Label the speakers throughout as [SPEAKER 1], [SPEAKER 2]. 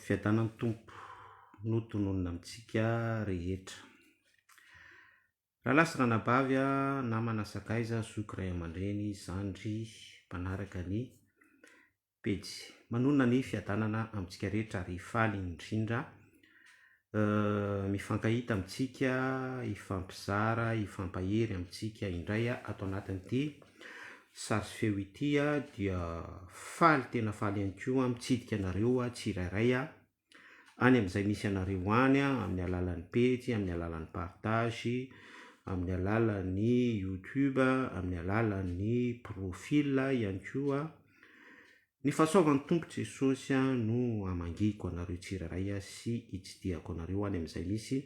[SPEAKER 1] Fiadanan'ny Tompo no tononina amintsika rehetra. Rahalahy sy ranabavy a, namana sakaiza, zoky, ray aman-dreny, zandry, mpanaraka ny pejy. Manonona ny fiadanana amintsika rehetra ary faly indrindra Mifankahita amintsika, hifampizara, hifampahery amintsika indray ato anatin'ity sary sy feo ity aho dia faly tena faly ihany koa mitsidika anareo tsirairay any amin'izay misy anareo any amin'ny alalan'ny pejy, amin'ny alalan'ny partage, amin'ny alalan'ny youtube, amin'ny alalan'ny profil ihany koa. Ny fahasoavan'ny Tompo Jesosy no hamangiko anareo tsirairay sy hitsidihako anareo any amin'izay misy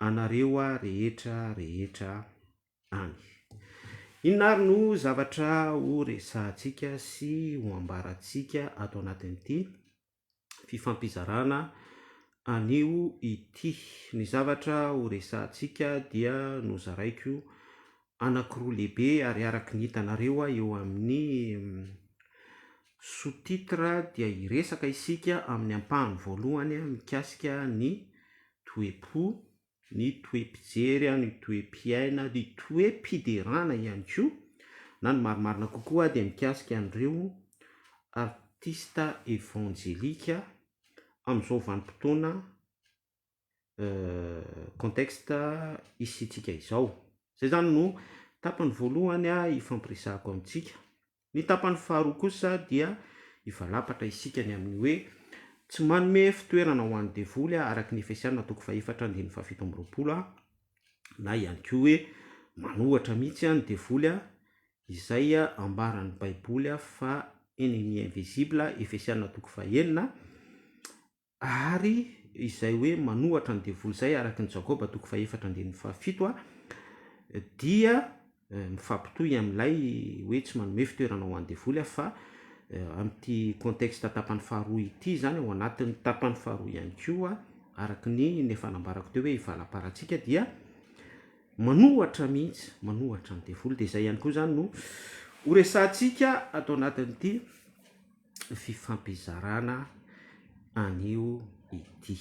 [SPEAKER 1] anareo rehetra rehetra any. Inona ary no zavatra ho resahantsika sy ho ambarantsika ato anatin'ity fifampizarana anio ity. Ny zavatra horesahantsika dia nozaraiko anankiroa lehibe ary araka ny hitanareo eo amin'ny sous-titre dia hiresaka isika amin'ny ampahany voalohany mikasika ny toe-po ny toe-pijery, ny toe-piaina, ny toe-piderana ihany koa na ny marimarina kokoa dia mikasika an'ireo artista evanjelika amin'izao vanim-potoana contexte isiantsika izao. Izay izany no tapany voalohany hifampiresahako amintsika Ny tapany faharoa kosa dia hivalapatra isika ny amin'ny hoe tsy manome fitoerana ho an'ny devoly araky ny Efesiana toko fahefatra andininy fahafito amby roapolo na ihany koa hoe manohatra mihitsy ny devoly izay ambaran'ny baiboly fa ennemi invisible Efesiana toko fahenina Ary izay hoe manohatra ny devoly izay, araka ny Jakoba toko fahefatra andininy fahafito, dia mifampitohy amin'ilay hoe tsy manome fitoerana ho an'ny devoly aho, fa amin'ity contexte tapany faharoa ity izany, ao anatin'ny tapany faharoa ihany koa, araka ny ny efa nambarako teo hoe i valamparantsika dia manohatra mihitsy, manohatra ny devoly, dia izay ihany koa izany no horesahantsika ato anatin'ity. fifampizarana an'io ity.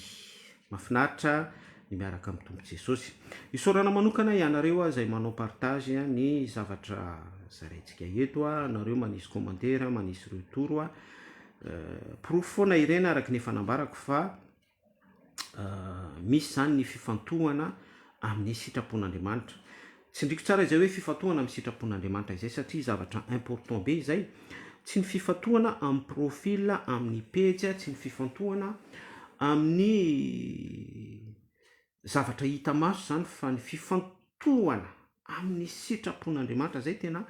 [SPEAKER 1] Mahafinaritra ny miaraka amin'ny Tompo Jesosy. Isaorana manokana ianareo ah, izay manao partage ah, ny zavatra zaraintsika eto, ah, anareo manisy commentaire, manisy retour, ah, euh, porofo foana ireny araka ny efa nambarako fa misy izany ny fifantohana amin'ny sitrapon'Andriamanitra. Tsindriko tsara izay hoe fifantohana amin'ny sitrapon'Andriamanitra izay satria zavatra important be izay. Tsy ny fifantohana amin'ny profil amin'ny pejy, tsy ny fifantohana amin'ny Zavatra hita maso izany fa ny fifantohana amin'ny sitrapon'Andriamanitra izay tena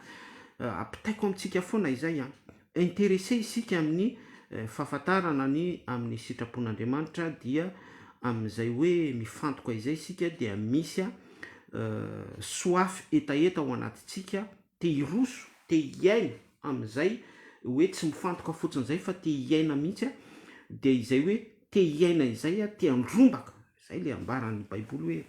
[SPEAKER 1] ampitaiko amintsika foana izay an! Interesse isika amin'ny fahafantarana ny amin'ny sitrapon'Andriamanitra dia amin'izay hoe mifantoka izay isika dia misy soif hetaheta ao anatintsika te hiroso, te hiaina amin'izay hoe tsy mifantoka fotsiny izay fa te hiaina mihitsy a, dia izay hoe te hiaina izay a, te handrombaka, izay ilay ambaran'ny baiboly hoe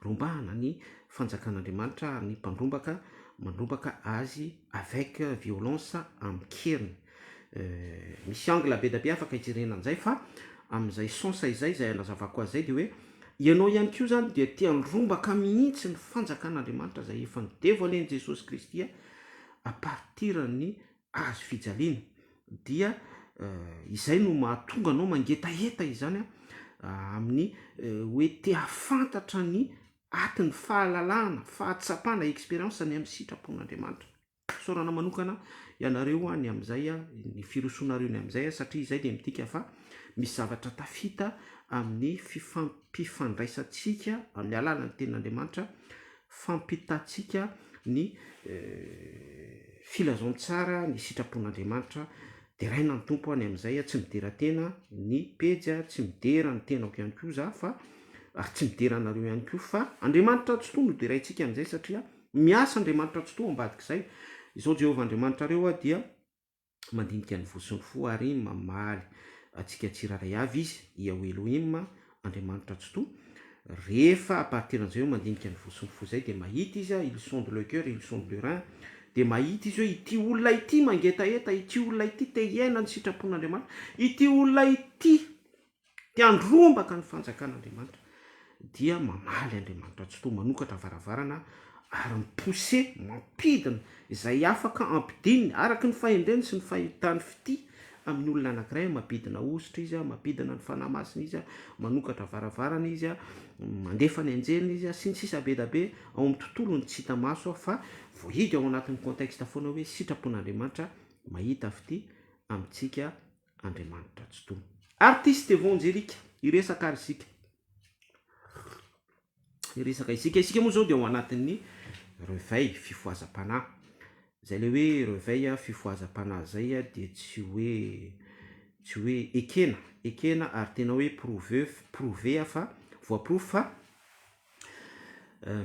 [SPEAKER 1] rombahana ny fanjakan'Andriamanitra ary ny mpandrombaka mandrombaka azy avec violence, amin-keriny. Misy angle be da be afaka hijerena an'izay fa amin'izay sens izay, izay anazavako azy izay dia hoe ianao ihany koa izany dia te handrombaka mihitsy ny fanjakan'Andriamanitra izay efa nodevoalen'i Jesosy Kristy à partir ny hazo fijaliana dia izay no mahatonga anao mangetaheta izany amin'ny hoe te hahafantatra ny atin'ny fahalalahana, fahatsapana, expérience ny amin'ny sitrapon'Andriamanitra. Isaorana manokana ianareo ny amin'izay, ny firosoanareo ny amin'izay satria izay dia midika fa misy zavatra tafita amin'ny fifampifandraisantsika amin'ny alalan'ny tenin'Andriamanitra, fampitantsika ny filazantsara ny sitrapon'Andriamanitra. Deraina ny Tompo ny amin'izay, tsy midera tena ny pejy, tsy midera ny tenako ihany koa za fa ary tsy midera anareo ihany koa fa Andriamanitra Ratsitoha no deraintsika amin'izay satria. Miasa Andriamanitra Tsitoha ambadik'izay. Izao Jehovah Andriamanitrareo aho dia mandinika ny voa sy ny fo ary mamaly antsika tsirairay avy izy, Iahweh Elohim, Andriamanitra Tsitoha. Rehefa à partir an'izay hoe mandinika ny voa sy ny fo izay dia mahita izy a, il sonde le cœur, il sonde le rein, dia mahita izy hoe ity olona ity mangetaheta, ity olona ity te hiaina ny sitrapon'Andriamanitra, ity olona ity, te handrombaka ny fanjakan'Andriamanitra dia mamaly Andriamanitra tsy toa manokatra varavarana ary mi-pousser, mampidina, izay afaka ampidininy araka ny fahendreny sy ny fahitany fitia amin'ny olona anankiray, mampidina hosotra Izy, mampidina ny Fanahy Masina Izy, manokatra varavarana Izy, mandefa ny anjeliny Izy, sy ny sisa be dia be ao amin'ny tontolony tsy hita maso fa voahidy ao anatin'ny contexte foana hoe sitrapon'Andriamanitra mahita fitia amintsika. Andriamanitra tsy tony. Artiste Vonjy Eric hiresaka ary isika. Hiresaka isika. Isika moa izao dia ao anatin'ny reveil fifohazam-panahy. Izay ilay hoe reveil fifohazam-panahy izay dia tsy hoe tsy hoe ekena, ekena ary tena hoe prouve, prouver fa voaporofo fa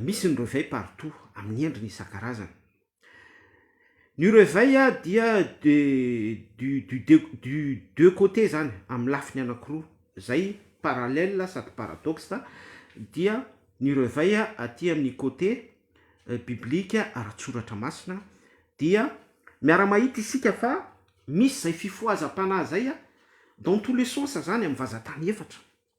[SPEAKER 1] misy ny reveil partout amin'ny endriny isan-karazany. Ny reveil a dia de du du deux du deux côtés zany amin'ny lafiny anakiroa zay parallèle sady paradoxe dia ny reveil a aty amin'ny côté biblique ara-tsoratra masina dia miara-mahita isika fa misy zay fifohazam-panahy zay a dans tous les sens zany amin'ny vazan-tany efatra.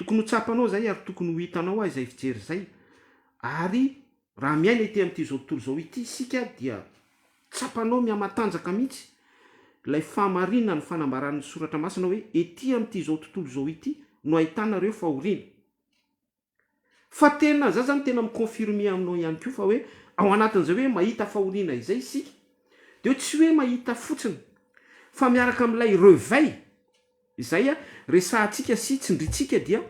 [SPEAKER 1] Tokony ho tsapanao izay ary tokony ho hitanao aho izay fijery izay. Ary raha miaina ity amin'ity izao tontolo izao ity isika dia tsapanao mihamatanjaka mihitsy ilay fahamarinan'ny fanambaran'ny Soratra Masina hoe ety amin'ity izao tontolo izao ity no ahitana ireo fahoriana. Fa tena za zany tena mi-confirmer aminao ihany koa fa hoe ao anatin'izay hoe mahita fahoriana izay isika de hoe tsy hoe mahita fotsiny fa miaraka amin'ilay reveil izay resahantsika sy tsindrintsika dia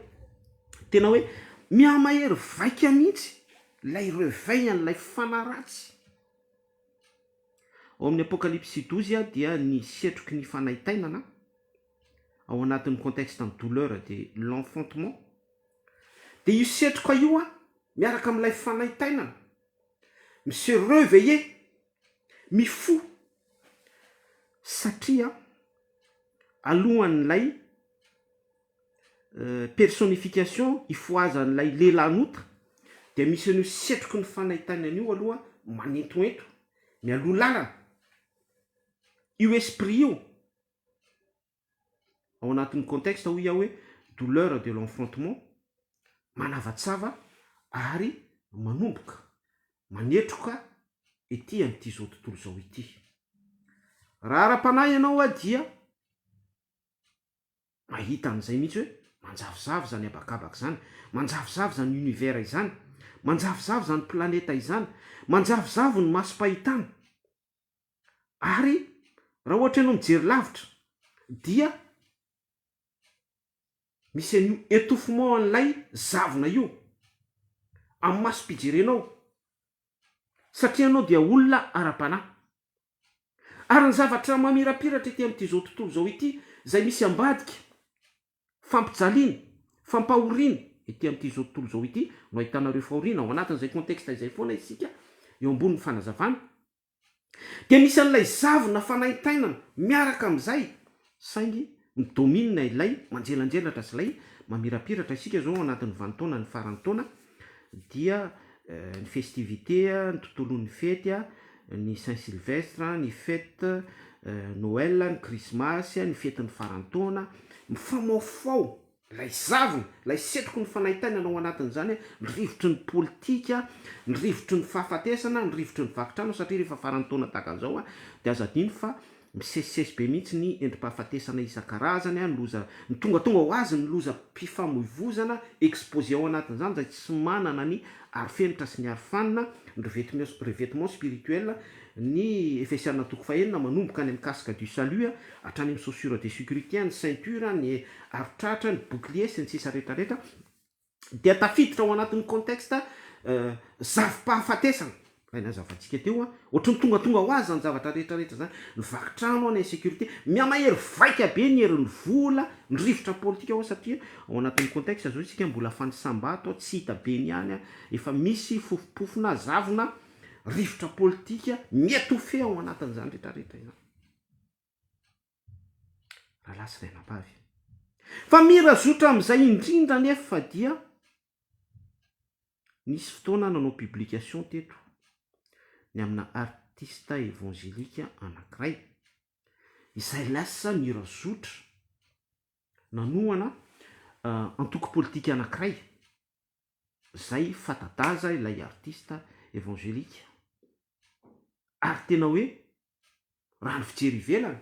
[SPEAKER 1] tena hoe mihamahery vaika mihitsy ilay reveil an'ilay fanaratsy. Ao amin'ny Apokalypsy dozy dia ny setroky ny fanaintainana ao anatin'ny contexte ny douleur dia l'enfantement Dia io setroka io an, miaraka amin'ilay fanaintainana, mi se reveiller, mifoha, satria alohan'ilay personnification ifohazan'ilay lehilahin'ota dia misy an'io setroky ny fanaintainana io aloha manentoento, mialoha lalana, io esprit io. ao anatin'ny contexte hoy aho hoe douleur de l'enfrontement, manavatsava ary manomboka manetroka ety amin'ity izao tontolo izao ity. Raha ara-panahy ianao aho dia mahita an'izay mihitsy hoe manjavozavo izany habakabaka izany, manjavozavo izany univers izany, manjavozavo izany planeta izany, manjavozavo ny masom-pahitana. Ary raha ohatra ianao mijery lavitra dia misy an'io etouffement an'ilay zavona io amin'ny masom-pijerenao satria ianao dia olona ara-panahy. Ary ny zavatra mamirapiratra ety amin'ity tontolo izao ity izay misy ambadika, fampijaliana, fampahoriana ety amin'izao tontolo izao ity no ahitana ireo fahoriana, ao anatin'izay contexte izay foana isika eo ambonin'ny fanazavana Dia misy an'ilay zavona fanaintainana miaraka amin'izay, saingy mi-domine ilay manjelanjelatra sy ilay mamirapiratra. Isika izao ao anatin'ny vanintaona, ny faran'ny taona, dia ny festivité, ny tontolon'ny fety, ny saint sylvestre, ny fête, Noël, ny krismasy, ny fetin'ny faran'ny taona, mifamaofao. Ilay zavona, ilay setroky ny fanahy tainana ao anatin'izany, ny rivotry ny politika, ny rivotry ny fahafatesana, ny rivotry ny vaky trano, satria rehefa faran'ny taona tahaka an'izao dia aza adino fa misesisesy be mihitsy ny endri-pahafatesana isan-karazany, ny loza, ny tongatonga ho azy ny lozam-pifamoivozana exposé ao anatin'izany izay tsy manana ny arofenitra sy ny arofanina, ny revêtement, revêtement spirituel, ny Efesiana toko fahenina manomboka any amin'ny casque du salut hatrany amin'ny chaussures de sécurité, ny ceinture, ny ary tratra ny bouclier sy ny sisa rehetra rehetra dia tafiditra ao anatin'ny contexte zafi-pahafatesana, ilay nazavantsika teo an, ohatran'ny tongatonga ho azy izany zavatra rehetra rehetra izany, ny vaky trano an, ny insecurite, mihamahery vaika be ny herin'ny vola, ny rivotra politika an, satria ao anatin'ny contexte izao isika mbola fanisam-bato an, tsy hita be ny any an, efa misy fofompofona zavona, rivotra politika mi-etouffer ao anatin'izany rehetra rehetra izany. Rahalahy sy Rainabavy. Fa mirazotra amin'izay indrindra anefa dia nisy fotoana aho nanao publication teto ny amina artista evangelika anankiray izay lasa nirazotra nanohana antoko politika anankiray izay fata-daza ilay artista evangelika ary tena hoe Raha ny fijery ivelany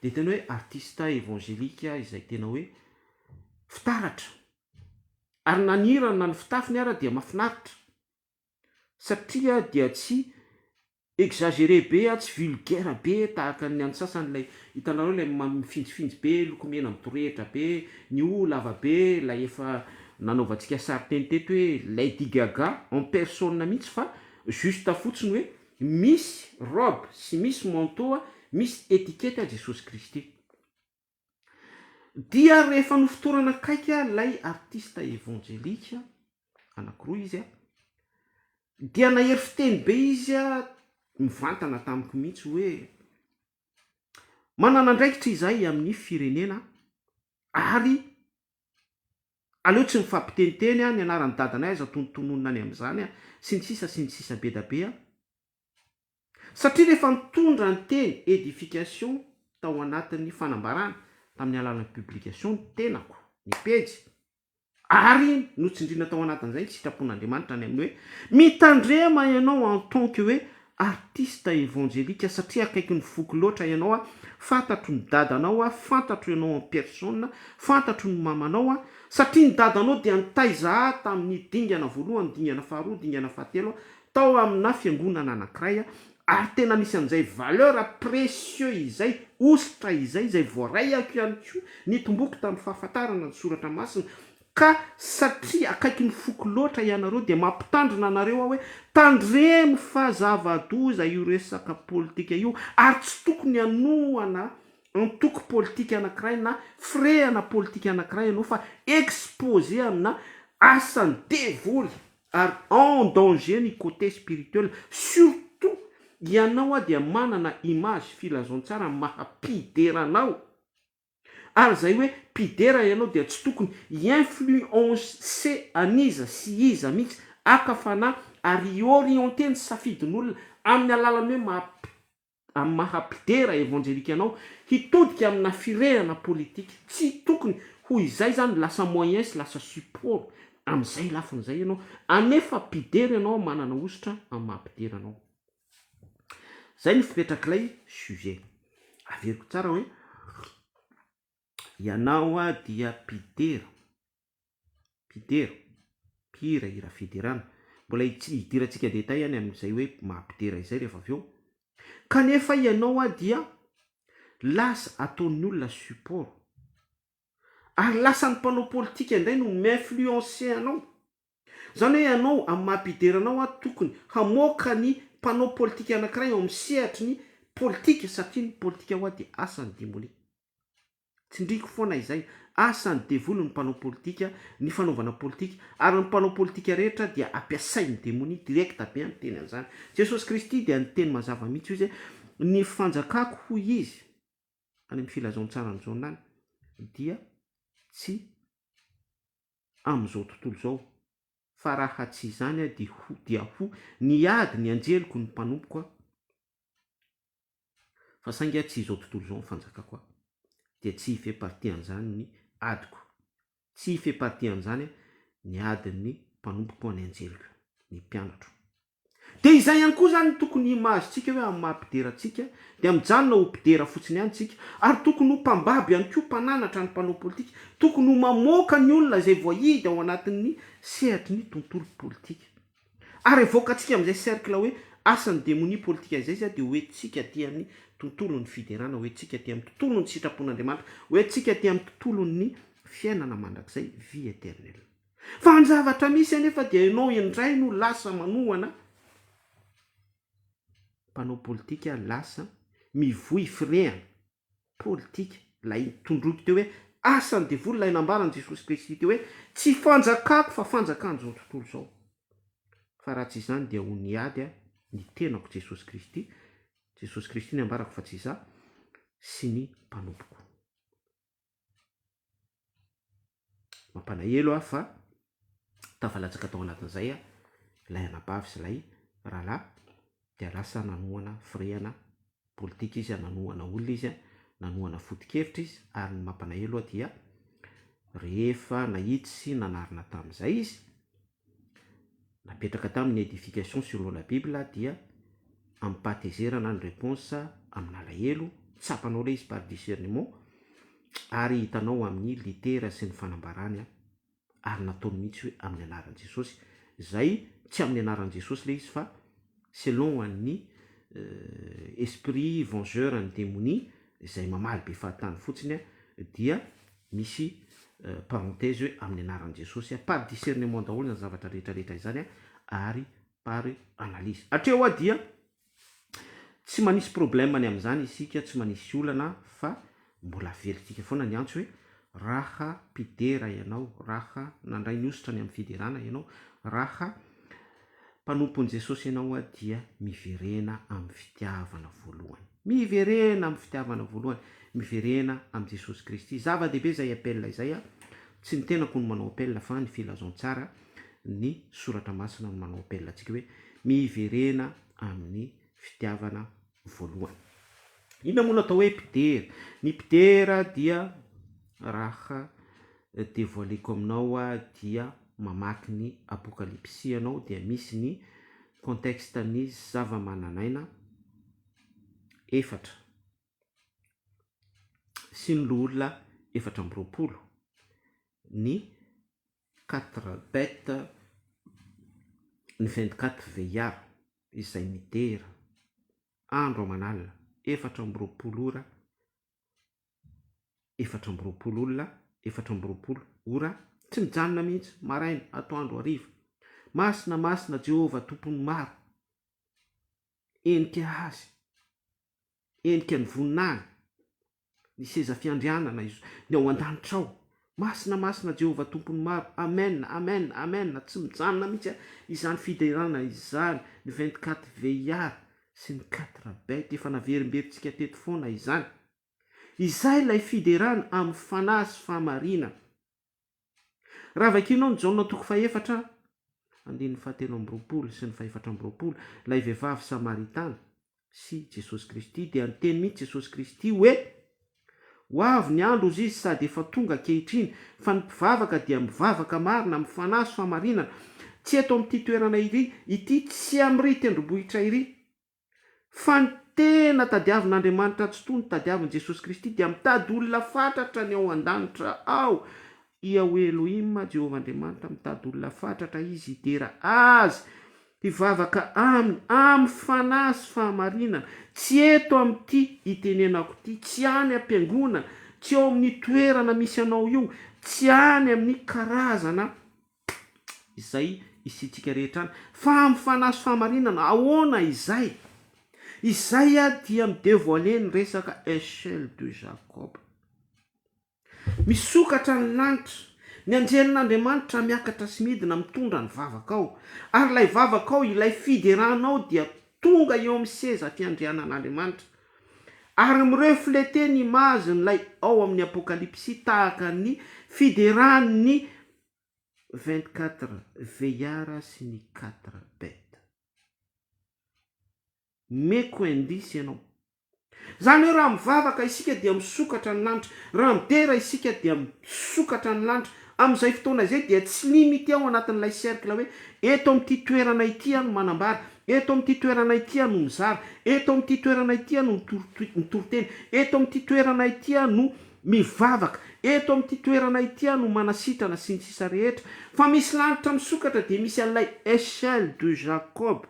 [SPEAKER 1] dia tena hoe artista evangelika izay tena hoe fitaratra. Ary na ny hirany na ny fitafiny ara dia mafinaritra satria dia tsy exagere be tsy vulgaire be tahaka ny an'ny sasany ilay hitanareo ilay mifinjifinjy be lokomena midorehitra be ny hoho lava be ilay efa nanaovantsika sary teny teto hoe Lady Gaga en personne mihitsy fa juste fotsiny hoe Misy robe sy misy manteau misy etiquette ahy Jesosy Kristy. Dia rehefa nofotorana akaiky ahy ilay artista evanjelika, anakiroa izy, dia nahery fiteny be izy mivantana tamiko mihitsy hoe, Manana andraikitra izahay amin'ny firenena ary Aleo tsy mifampiteniteny an, ny anaran'i dadanay aza tonontononina any amin'izany an, sy ny sisa sy ny sisa be da be an. Satria rehefa nitondra ny teny edification tao anatin'ny fanambarana tamin'ny alalan'ny publication ny tenako, ny pejy, ary notsindriana tao anatin'izay ny sitrapon'Andriamanitra any amin'ny hoe, mitandrema ianao en tant que hoe Artiste evangelika satria akaiky ny foko loatra ianao a, fantatro ny dadanao a, fantatro ianao en personne, fantatro ny mamanao a, satria ny dadanao dia nitaiza ahy tamin'ny dingana voalohany, dingana faharoa, dingana fahatelo a, tao amina fiangonana anankiray a, ary tena misy an'izay valeur précieux izay, hosotra izay, izay voaraiako ihany koa, nitomboako tamin'ny fahafantarana ny soratra masina, Ka satria akaiky ny foko loatra ianareo dia mampitandrina anareo aho hoe tandremo fa zava-doza io resaka politika io ary tsy tokony hanohana antoko politika anankiray na firehana politika anankiray ianao fa exposé amina asan'ny devoly ary en danger ny côté spirituel. Surtout ianao dia manana image filazantsara maha-mpidera anao. Ary izay hoe mpidera ianao dia tsy tokony hi-influencer an'iza sy iza mihitsy, haka fanahy ary hi-orienter ny safidin'olona amin'ny alalan'ny hoe maha amin'ny maha mpidera evanjelika anao hitodika amina firehana politika. Tsy tokony ho izay izany, lasa moyen sy lasa support amin'izay lafiny izay ianao, anefa mpidera ianao manana hosotra amin'ny maha mpidera anao. Izay no fipetrak'ilay sujet. Averiko tsara hoe ianao dia mpidera, mpidera, mpihira hira fiderana. Mbola hidirantsika détail any amin'izay hoe maha mpidera izay rehefa avy eo. Kanefa ianao dia lasa ataon'ny olona support. Ary lasan'ny mpanao politika indray no mi-influencer anao. Izany hoe ianao, amin'ny maha mpidera anao aho, tokony hamoaka ny mpanao politika anankiray ao amin'ny sehatry ny politika satria ny politika ho ahy dia asan'ny demonia. Tsindriako foana izay, asan'ny devoly ny mpanao politika, ny fanaovana politika, ary ny mpanao politika rehetra dia ampiasain'ny demonia, direct be ny teny an'izany. Jesosy Kristy dia niteny mazava mihitsy hoy izy hoe, Ny fanjakako, hoy izy, any amin'ny filazantsara an'i Jaona any, dia tsy. amin'izao tontolo izao, fa raha tsy izany aho dia ho, dia ho, niady ny anjeliko ny mpanompoko aho, fa saingy tsy izao tontolo izao ny fanjakako aho, dia tsy hifepartian'izany ny adiko, tsy hifepartian'izany ny adin'ny mpanompoko ny anjeliko, ny mpianatro. Dia izay ihany koa izany no tokony himahazo-tsika hoe amin'ny maha-mpidera antsika, dia mijanona ho mpidera fotsiny ihany isika, ary tokony ho mpambabo ihany koa, mpananatra ny mpanao politika, tokony ho mamoaka ny olona izay voahidy ao anatin'ny sehatry ny tontolo politika. Ary avoakantsika amin'izay cercle hoe asan'ny demonia politika izay izay dia ho entintsika aty amin'ny tontolon'ny fiderana, ho entintsika aty amin'ny tontolon'ny sitrapon'Andriamanitra, ho entintsika aty amin'ny tontolon'ny fiainana mandrakizay, vie éternelle. Fa ny zavatra misy anefa dia ianao indray no lasa manohana mpanao politika, lasa mivoy firehana politika, ilay tondroiko teo hoe asan'ny devoly, ilay nambaran'i Jesosy Kristy teo hoe tsy fanjakako fa fanjakan'izao tontolo izao. Fa raha tsy izany dia ho niady aho, ny tenako Jesosy Kristy, Jesosy Kristy ny ambarako fa tsy izaho, sy ny mpanompoko. Mampalahelo aho fa tafalatsaka tao anatin'izay ilay anabavy sy ilay rahalahy dia lasa nanohana firehana politika izy, nanohana olona izy, nanohana foto-kevitra izy ary ny mampalahelo aho dia rehefa nahitsy sy nanarina tamin'izay izy napetraka tamin'ny Edification sur l'eau la bible dia amim-pahatezerana ny réponse amin'alahelo, tsapanao ilay izy par discernement ary hitanao amin'ny litera sy ny fanambarany ary nataony mihitsy hoe amin'ny anaran'i Jesosy izay tsy amin'ny anaran'i Jesosy ilay izy fa selon an'ny esprit vengeur ny demonia izay mamaly be fahatany fotsiny dia misy parenthèse hoe amin'ny anaran'i Jesosy par discernement daholo izany zavatra rehetra rehetra izany ary par analyse hatreo dia tsy manisy problème ny amin'izany isika tsy manisy olana fa Mbola veritika foana ny antso hoe raha mpidera ianao, raha nandray ny hosotra any amin'ny fiderana ianao, raha mpanompon'i Jesosy ianao aho dia miverena amin'ny fitiavana voalohany. Miverena amin'ny fitiavana voalohany, miverena amin'i Jesosy Kristy. Zava-dehibe izay appel izay. Tsy ny tenako no manao appel fa ny filazantsara, ny soratra masina no manao appel antsika hoe miverena amin'ny fitiavana voalohany. Inona moa no atao hoe mpidera? Ny mpidera dia raha devoileko aminao aho dia mamaky ny apokalipsy ianao dia misy ny contexte ny zava-mananaina efatra sy ny loholona efatra amby roapolo, ny Quatre bêtes ny vingt quatre vieillards izay midera andro aman'alina efatra amby roapolo ora efatra amby roapolo olona efatra amby roapolo ora tsy mijanona mihitsy maraina atoandro hariva masina masina Jehovah tompon'ny maro henika azy Endrika ny voninahiny, ny seza fiandrianana izy, ny ao an-danitra ao. Masina, masina Jehovah Tompon'ny maro. Amen, amen, amen, tsy mijanona mihitsy izany fiderana izany, ny vingt-quatre veillards sy ny quatre bêtes, efa naverimberintsika teto foana izany. Izay ilay fiderana amin'ny fanahy sy fahamarinana. Raha vakianao ny Jaona toko fahefatra andininy fahatelo amby roapolo sy ny fahefatra amby roapolo, ilay vehivavy Samaritana sy Jesosy Kristy, dia niteny mihitsy Jesosy Kristy hoe, Ho avy ny andro hozy izy sady efa tonga ankehitriny, fa ny mpivavaka dia mivavaka marina amin'ny fanahy sy fahamarinana, tsy eto amin'ity toerana iry, ity tsy amin'ry tendrombohitra iry. Fa ny tena tadiavin'Andriamanitra tsy toa ny tadiavin'i Jesosy Kristy dia mitady olona fatratra ny ao an-danitra ao. Iahweh Elohim, Jehovah Andriamanitra, mitady olona fatratra Izy hidera Azy, hivavaka Aminy amin'ny fanahy sy fahamarinana, tsy eto amin'ity itenenako ity, tsy any am-piangonana, tsy ao amin'ny toerana misy anao io, tsy any amin'ny karazana izay isiantsika rehetra any. Fa amin'ny fanahy sy fahamarinana, ahoana izay? Izay dia mi-devoiler ny resaka Echelle de Jacob. Misokatra ny lanitra, ny anjelin'Andriamanitra miakatra sy midina mitondra ny vavakao, ary ilay vavakao, ilay fideranao dia tonga eo amin'ny seza fiandrianan'Andriamanitra, ary mi-refleter ny image-n'ilay ao amin'ny Apokalypsy tahaka ny fideran'ny vingt quatre veiara sy ny quatre bête meko indice ianao zany hoe raha mivavaka isika dia misokatra ny lanitra raha midera isika dia misokatra ny lanitra amin'izay fotoana izay dia tsy limite ao anatin'ilay cercle hoe eto amin'ity toerana ity aho no manambara eto amin'ity toerana ity aho no mizara eto amin'ity toerana ity aho no mitory tena eto amin'ity toerana ity aho no Mivavaka, eto amin'ity toerana ity aho no manasitrana sy ny sisa rehetra, fa misy lanitra misokatra dia misy an'ilay Echelle de Jacob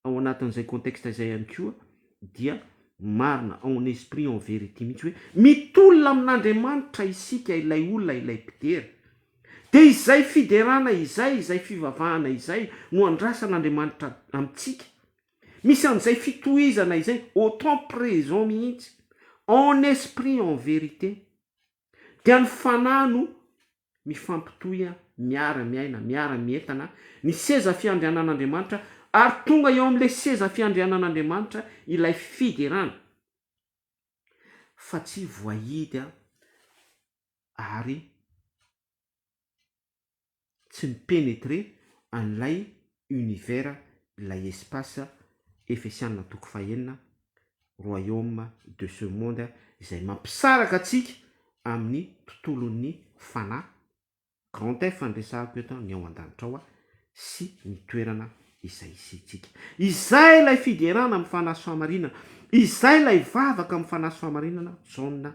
[SPEAKER 1] ao anatin'izay contexte izay ihany koa dia marina ao en esprit en vérité mihitsy hoe mitolona amin'Andriamanitra isika ilay olona ilay mpidera dia izay fiderana izay izay fivavahana izay no andrasan'Andriamanitra amintsika Misy an'izay fitohizana izay au temps présent mihitsy, en esprit en vérité, dia ny fanahy no mifampitohy miara miaina, miara mientana ny seza fiandrianan'Andriamanitra ary tonga eo amin'ilay seza fiandrianan'Andriamanitra ilay fiderana fa tsy voahidy ary tsy mi-penetrer an'ilay univers, ilay espace Efesiana toko fahenina, royaume de ce monde, izay mampisaraka antsika amin'ny tontolon'ny fanahy, grand F no resahako eto, ny ao an-danitra ao, sy ny toerana izay hisiantsika. Izay ilay fiderana amin'ny fanahy sy fahamarinana, izay ilay vavaka amin'ny fanahy sy fahamarinana, Jaona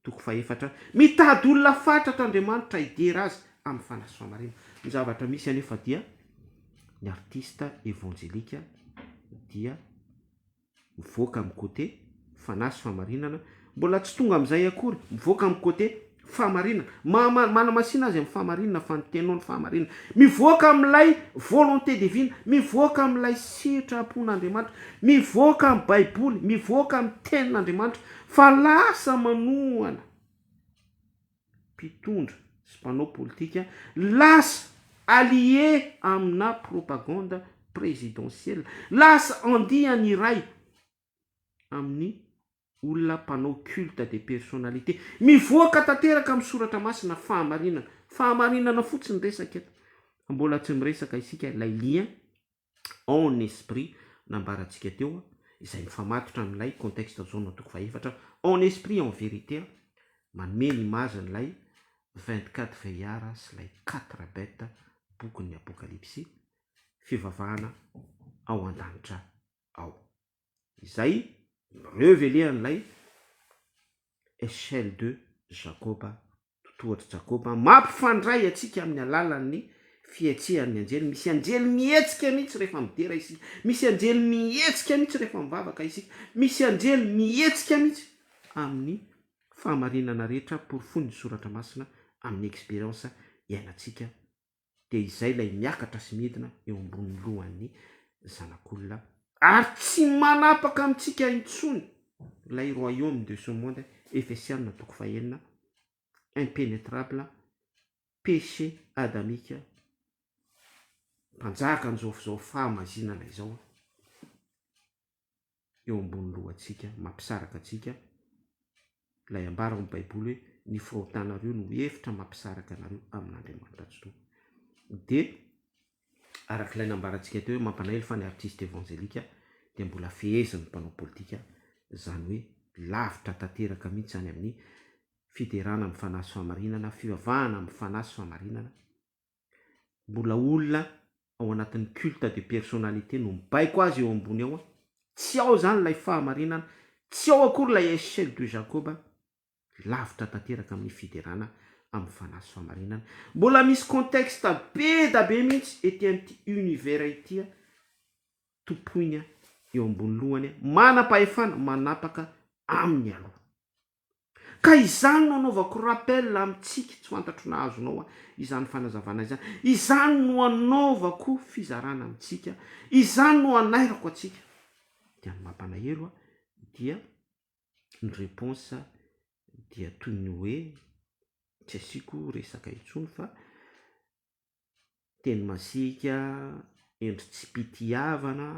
[SPEAKER 1] Toko fahefatra, Mitady olona fatratra Andriamanitra hidera Azy amin'ny fanahy sy famarina. Ny zavatra misy anefa dia ny artista evanjelika dia mivoaka amin'ny côté fanahy sy fahamarinana, mbola tsy tonga amin'izay akory, mivoaka amin'ny côté fahamarinana, maha manamasina azy amin'ny fahamarinana fa ny teny no fahamarinana, mivoaka amin'ilay volonté divine, mivoaka amin'ilay sitrapon'Andriamanitra, mivoaka amin'ny baiboly, mivoaka amin'ny tenin'Andriamanitra, Fa lasa manohana mpitondra sy mpanao politika, lasa allié amina propagande présidentielle, lasa andiany iray amin'ny olona mpanao culte des personnalités. Mivoaka tanteraka amin'ny soratra masina fahamarinana. Fahamarinana fotsiny resaka eto. Mbola tsy miresaka isika ilay lien en esprit nambarantsika teo izay mifamatotra amin'ilay contexte zone antoko fahefatra en esprit en vérité manome ny image an'ilay vingt quatre vieillards sy ilay quatre bêtes bokin'ny apokalypsy fivavahana ao an-danitra ao. izay revele-an'ilay Echelle de Jacob, totohatr'i Jacob, mampifandray antsika amin'ny alalan'ny fihetsehan'ny anjely, misy anjely mihetsika mihitsy rehefa midera isika, misy anjely mihetsika mihitsy rehefa mivavaka isika, misy anjely mihetsika mihitsy amin'ny fahamarinana rehetra porofoin'ny soratra masina amin'ny expérience iainantsika dia izay ilay miakatra sy midina eo ambonin'ny lohan'ny zanak'olona ary tsy manapaka amintsika intsony ilay royaume de ce monde, Efesiana toko fahenina, impenetrable, péché adamique, mpanjaka an'izao fahamazinana izao. eo ambony lohantsika, mampisaraka antsika. Ilay ambara ao amin'ny Baiboly hoe ny fahotanareo no hevitra mampisaraka anareo amin'Andriamanitra Jehovah. Dia araka ilay nambarantsika teo hoe mampanailo fa ny artista evanjelika dia mbola fehezin'ny mpanao politika, izany hoe lavitra tanteraka mihitsy any amin'ny fiderana amin'ny fanahy sy fahamarinana, fivavahana amin'ny fanahy sy fahamarinana, mbola olona ao anatin'ny culte de personnalité no mibaiko azy eo ambony eo, tsy ao izany ilay fahamarinana, tsy ao akory ilay echelle de Jacob, lavitra tanteraka amin'ny fiderana amin'ny fanahy sy fahamarinana, mbola misy contexte be da be mihitsy ety amin'ity univers ity tompoina eo ambony lohany manam-pahefana manapaka aminy aloha. Ka izany no anaovako rappel amintsika tsy fantatro na azonao izany fanazavana izany. Izany no anaovako fizarana amintsika, izany no anairako antsika. Dia ny mampanaelo dia ny reponse dia toy ny hoe tsy asiako resaka intsony fa teny masiaka, endri-tsipitiavana,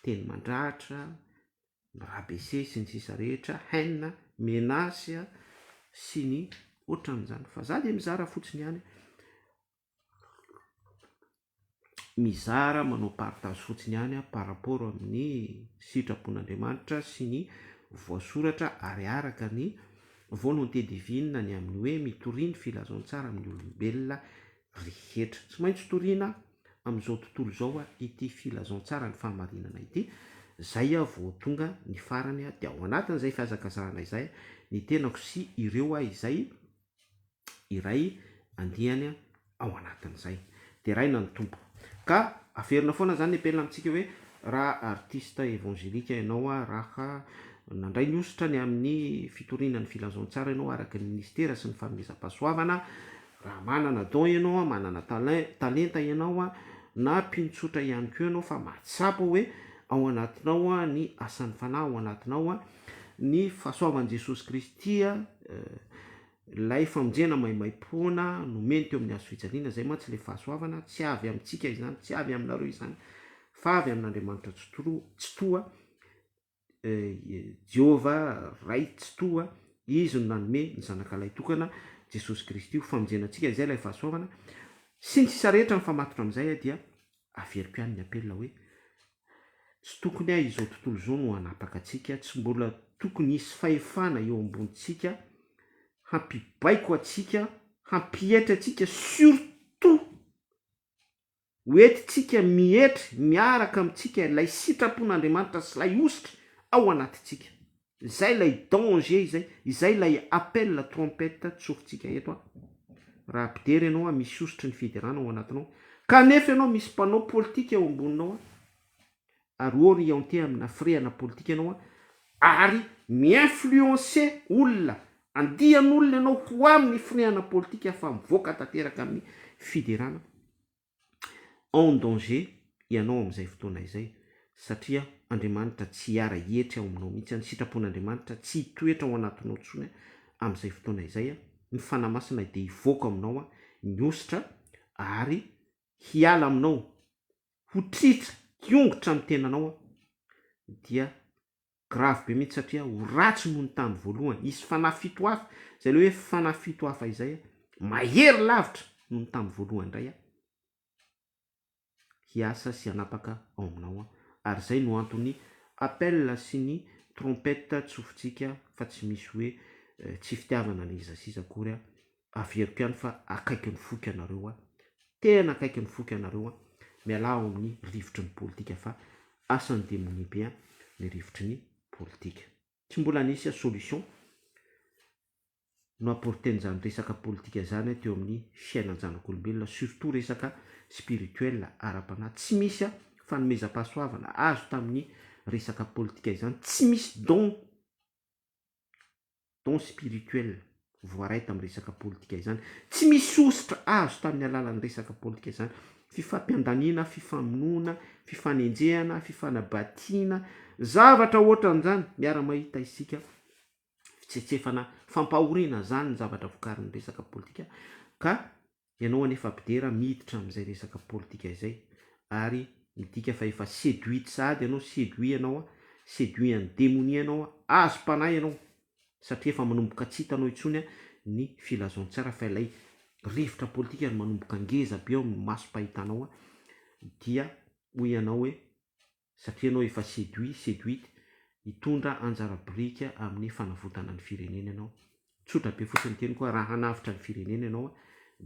[SPEAKER 1] teny mandratra, ny rabaisse sy ny sisa rehetra, haine, menace sy ny ohatran'izany fa za dia mizara fotsiny ihany. mizara manao partage fotsiny ihany par rapport amin'ny sitrapon'Andriamanitra sy ny voasoratra ary araka ny volonté divine ny amin'ny hoe mitoria ny filazantsara amin'ny olombelona rehetra. Tsy maintsy toriana amin'izao tontolo izao ity filazantsara ny fahamarinana ity, izay vao tonga ny farany dia ao anatin'izay fihazakazahana izay ny tenako sy ireo izay iray andiany ao anatin'izay. Deraina ny Tompo. Ka averina foana izany ny apel amintsika hoe raha artista evangelika ianao, raha nandray ny hosotra ny amin'ny fitoriana ny filazantsara ianao araka ny ministera sy ny fanomezam-pahasoavana, raha manana don ianao, manana talin, talenta ianao, na mpino tsotra ihany koa ianao fa mahatsapa hoe ao anatinao ny asan'ny Fanahy ao anatinao, Ny fahasoavan'i Jesosy Kristy, ilay famonjena maimaim-poana nomeny teo amin'ny hazo fijaliana, izay mantsy ilay fahasoavana, tsy avy amintsika izany, tsy avy aminareo izany, fa avy amin'Andriamanitra Tsitoha, Jehovah Ray Tsitoha, Izy no nanome ny Zanaka Lahy Tokana, Jesosy Kristy, ho famonjena antsika, izay ilay fahasoavana, sy ny sisa rehetra mifamatotra amin'izay dia. averiko ihany ny appel hoe tsy tokony ahy izao tontolo izao no hanapaka antsika, tsy mbola tokony hisy fahefana eo ambonintsika hampibaiko antsika, hampietry antsika surtout ho entintsika mietry miaraka amintsika ilay sitrapon'Andriamanitra sy ilay hositra ao anatintsika. Izay ilay danger izay, izay ilay appel la trompette tsorintsika eto a! Raha ampidery ianao a, misy hosotry ny fiderana ao anatinao, kanefa ianao misy mpanao politika eo amboninao a! Ary orienter amina hafiriahana politika ianao a! Ary mi-influencer olona, andian'olona ianao ho amin'ny hifirehana politika afa-mivoaka tanteraka amin'ny fiderana. en danger ianao amin'izay fotoana izay satria Andriamanitra tsy hiara hietry ao aminao mihitsy, ny sitrapon'Andriamanitra tsy hitoetra ao anatinao intsony amin'izay fotoana izay, ny Fanahy Masina dia hivoaka aminao ny ositra ary hiala aminao, ho tritra, hiongotra amin'ny tenanao dia Grave be mihitsy satria ho ratsy noho ny tamin'ny voalohany. Hisy fanahy fito hafa. Izay ilay hoe fanahy fito hafa izay mahery lavitra noho ny tamin'ny voalohany indray hiasa sy hanapaka ao aminao. Ary izay no anton'ny appel sy ny trompette tsofintsika fa tsy misy hoe tsy fitiavana na iza sy iza akory averiko ihany fa akaiky ny foiko ianareo an, tena akaiky ny foiko ianareo an, mialà ao amin'ny rivotry ny politika fa asan'ny demonia be an ny rivotry ny politika. Tsy mbola nisy an solution no apporten'izany resaka politika izany an teo amin'ny fiainan janak'olombelona surtout resaka spirituel, ara-panahy, tsy misy an fanomezam-pahasoavana azo tamin'ny resaka politika izany, tsy misy don, don spirituel, voaray tamin'ny resaka politika izany. Tsy misy sosotra azo tamin'ny alalan'ny resaka politika izany. Fifampiandaniana, fifamonoana, fifanenjehana, fifanabatiana, zavatra ohatran'izany, miara-mahita isika, fitsetsefana, fampahoriana, izany ny zavatra vokarin'ny resaka politika ka Ianao anefa Abdera miditra amin'izay resaka politika izay ary midika fa efa seduite sahady ianao, seduit ianao, seduit an'i demonia ianao, azom-panahy ianao satria efa manomboka tsy hitanao intsony ny filazantsara fa ilay rivotra politika ary manomboka ngeza be ao amin'ny masom-pahitanao dia hoy ianao hoe satria ianao efa séduit, séduite, hitondra anjara biriky amin'ny fanavotana ny firenena ianao. Tsotra be fotsiny ny teniko hoe raha hanavotra ny firenena ianao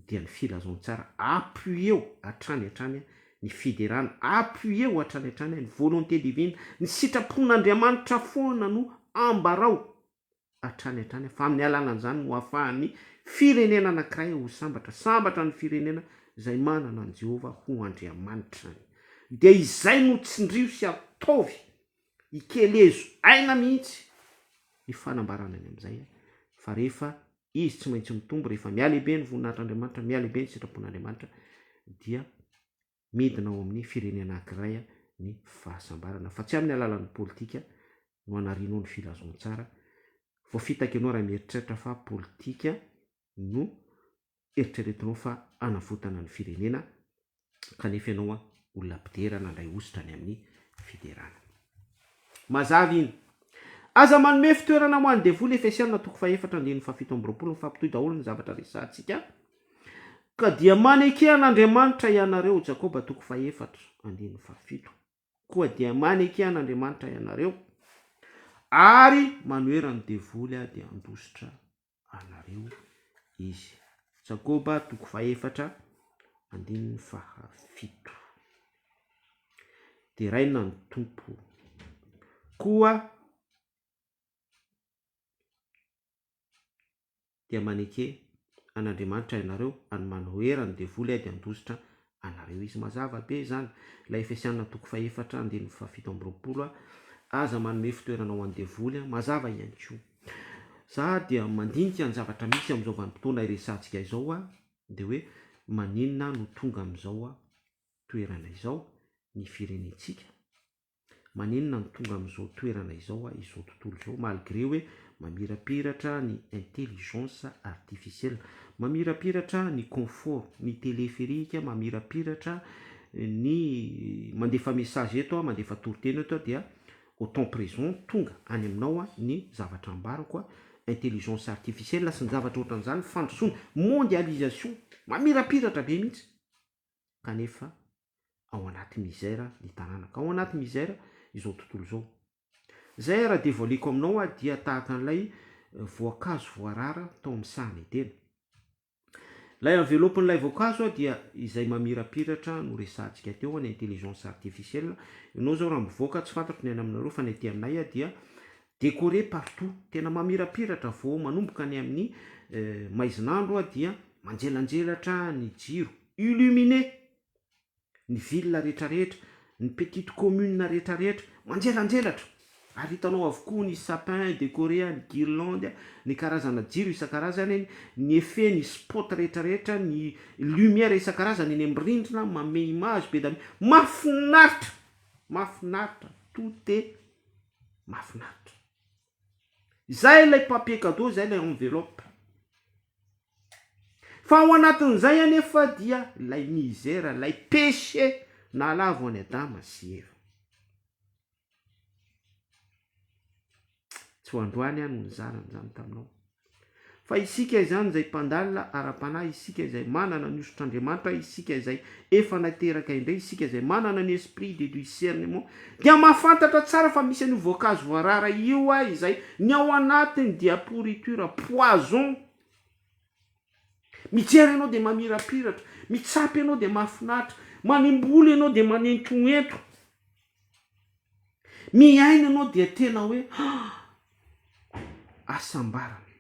[SPEAKER 1] dia ny filazantsara, appuie-o hatrany hatrany ny fiderana, appuie-o hatrany hatrany ny volonté divine, ny sitrapon'Andriamanitra foana no ambarao, hatrany hatrany fa amin'ny alalan'izany no ahafahan'ny firenena anankiray ho sambatra, sambatra ny firenena izay manana an'i Jehovah ho Andriamanitrany. Dia izay no tsindrio sy ataovy, ikelezo aina mihitsy ny fanambarana ny amin'izay fa rehefa izy tsy maintsy mitombo, rehefa mihalehibe ny voninahitr'Andriamanitra, mihalehibe ny sitrapon'Andriamanitra dia midina ao amin'ny firenena anankiray ny fahasambarana fa tsy amin'ny alalan'ny politika no anarianao ny filazantsara, voafitaka ianao raha mieritreritra fa politika no eritreretinao fa hanavotana ny firenena kanefa ianao olona mpidera nandray hosotra any amin'ny fiderana. Mazava iny. Aza manome fitoerana ho an'ny devoly Efesiana toko fahefatra andininy fahafito amby roapolo mifampitohy daholo ny zavatra resahantsika Ka dia maneke an' Andriamanitra ianareo, Jakoba toko fahefatra, andininy fahafito, Koa dia maneke an' Andriamanitra ianareo, ary manohera ny devoly aho dia handositra anareo izy. Jakoba toko fahefatra, andininy fahafito. Deraina ny Tompo. Koa dia maneke an'Andriamanitra ianareo ary manohera ny devoly ady handositra anareo izy. Mazava be izany. Ilay Efesiana toko fahefatra andininy fahafito amby roapolo, Aza manome fitoerana ho an'ny devoly. Mazava ihany koa. Za dia mandinika ny zavatra misy amin'izao vanim-potoana iresahantsika izao aho dia hoe maninona no tonga amin'izao toerana izao ny firenentsika? maninona no tonga amin'izao toerana izao aho izao tontolo izao malgré hoe mamirapiratra ny intelligence artificielle, mamirapiratra ny confort, ny téléphérique, mamirapiratra ny mandefa message eto aho, mandefa toriteny eto aho dia au temps présent tonga any aminao ny zavatra ambarako, intelligence artificielle sy ny zavatra ohatran'izany, fandrosoana, mondialisation, mamirapiratra be mihitsy kanefa ao anaty misère ny tanàna, ka ao anaty misère izao tontolo izao. Izay ary devoileko aminao aho dia tahaka an'ilay voankazo voarara tao amin'ny sahan'i Edena. Ilay envelope-n'ilay voankazo dia izay mamirapiratra noresahantsika teo any intelligence artificielle. Ianao izao raha mivoaka, tsy fantatro ny any aminareo fa ny aty aminay dia décoré partout, tena mamirapiratra vao manomboka any amin'ny maizin'andro dia manjelanjelatra ny jiro. illuminer ny ville rehetra rehetra, ny petite commune rehetra rehetra, manjelanjelatra, ary hitanao avokoa ny sapin decoré, ny guirlande, ny karazana jiro isan-karazany, ny effet, ny spot rehetra rehetra, ny lumière isan-karazany eny amin'ny rindrina, manome image be dia be, mahafinaritra, mahafinaritra, tout est mahafinaritra. Izay ilay papier cadeau, izay ilay enveloppe. Fa ao anatin'izay anefa dia ilay misère, ilay péché nahalavo an'i Adama sy Eva. Tsy ho androany aho no nizara an'izany taminao. Fa isika izany izay mpandalina ara-panahy, isika izay manana ny hosotr'Andriamanitra, isika izay efa nateraka indray, isika izay manana ny esprit de discernement, dia mahafantatra tsara fa misy an'io voankazo voarara io a, izay ny ao anatiny dia pourriture, poison. Mijery ianao dia mamirapiratra, mitsapa ianao dia mahafinaritra, manimboly ianao dia manentoento. Mihaino anao dia tena hoe hasambarana.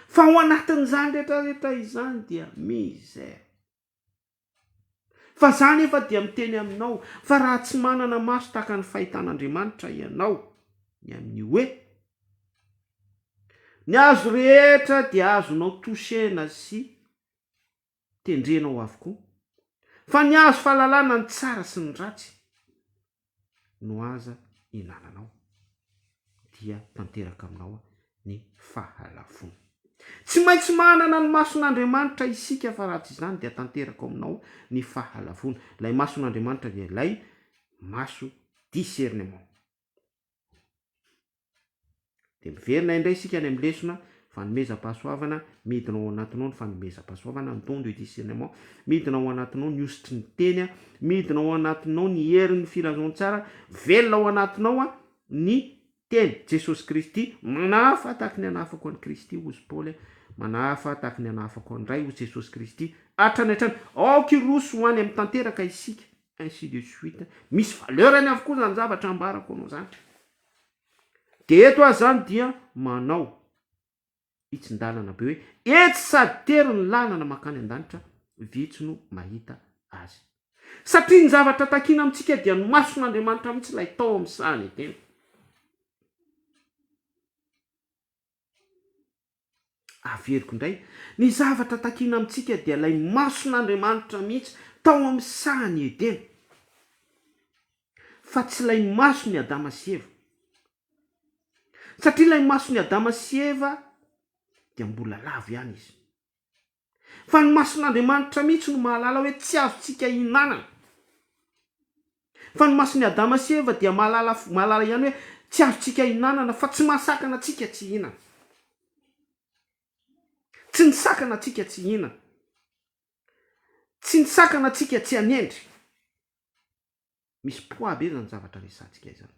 [SPEAKER 1] Fa ao anatin'izany rehetrarehetra izany dia misère. Fa za nefa dia miteny aminao fa raha tsy manana maso tahaka ny fahitan'Andriamanitra ianao ny amin'ny hoe ny hazo rehetra dia azonao toucher-na sy tendrenao avokoa, fa ny hazo fahalalana ny tsara sy ny ratsy no aza ihinananao, dia tanteraka aminao ny fahalavoana. Tsy maintsy manana ny mason'Andriamanitra isika, fa raha tsy izany dia tanteraka ao aminao ny fahalavoana. Ilay mason'Andriamanitra dia ilay maso discernement. Dia miverina indray isika any amin'ny lesona fanomezam-pahasoavana, midina ao anatinao ny fanomezam-pahasoavana, ny don de discernement, midina ao anatinao ny hosotry ny teny, midina ao anatinao ny herin'ny filazantsara, velona ao anatinao ny teny, Jesosy Kristy, manahafa tahaky ny anahafako an'i Kristy, hoy i Paoly, manahafa tahaky ny anahafako an'i Ray, hoy Jesosy Kristy, hatrany hatrany, aoka hiroso ho any amin'ny tanteraka isika. ainsi de suite, misy valeur-ny avokoa izany zavatra ambarako anao izany. Dia eto aho izany dia manao hitsin-dalana be hoe, etsy sady tery ny lalana mankany an-danitra, vitsy no mahita azy. Satria ny zavatra takiana amintsika dia ny mason'Andriamanitra mihitsy ilay tao amin'ny sahan'ny tena. Averiko indray, ny zavatra takiana amintsika dia ilay mason'Andriamanitra mihitsy tao amin'ny sahan'i Edena, fa tsy ilay mason'i Adama sy Eva. Satria ilay mason'i Adama sy Eva dia mbola lavo ihany izy. Fa ny mason'Andriamanitra mihitsy no mahalala hoe tsy azontsika hihinanana. Fa ny mason'i Adama sy Eva dia mahalala mahalala ihany hoe tsy azontsika hihinanana fa tsy mahasakana antsika tsy hihinana. Tsy nisakana antsika tsy hihinana. Tsy nisakana antsika tsy hanendry. Misy poids be izany zavatra resahantsika izany.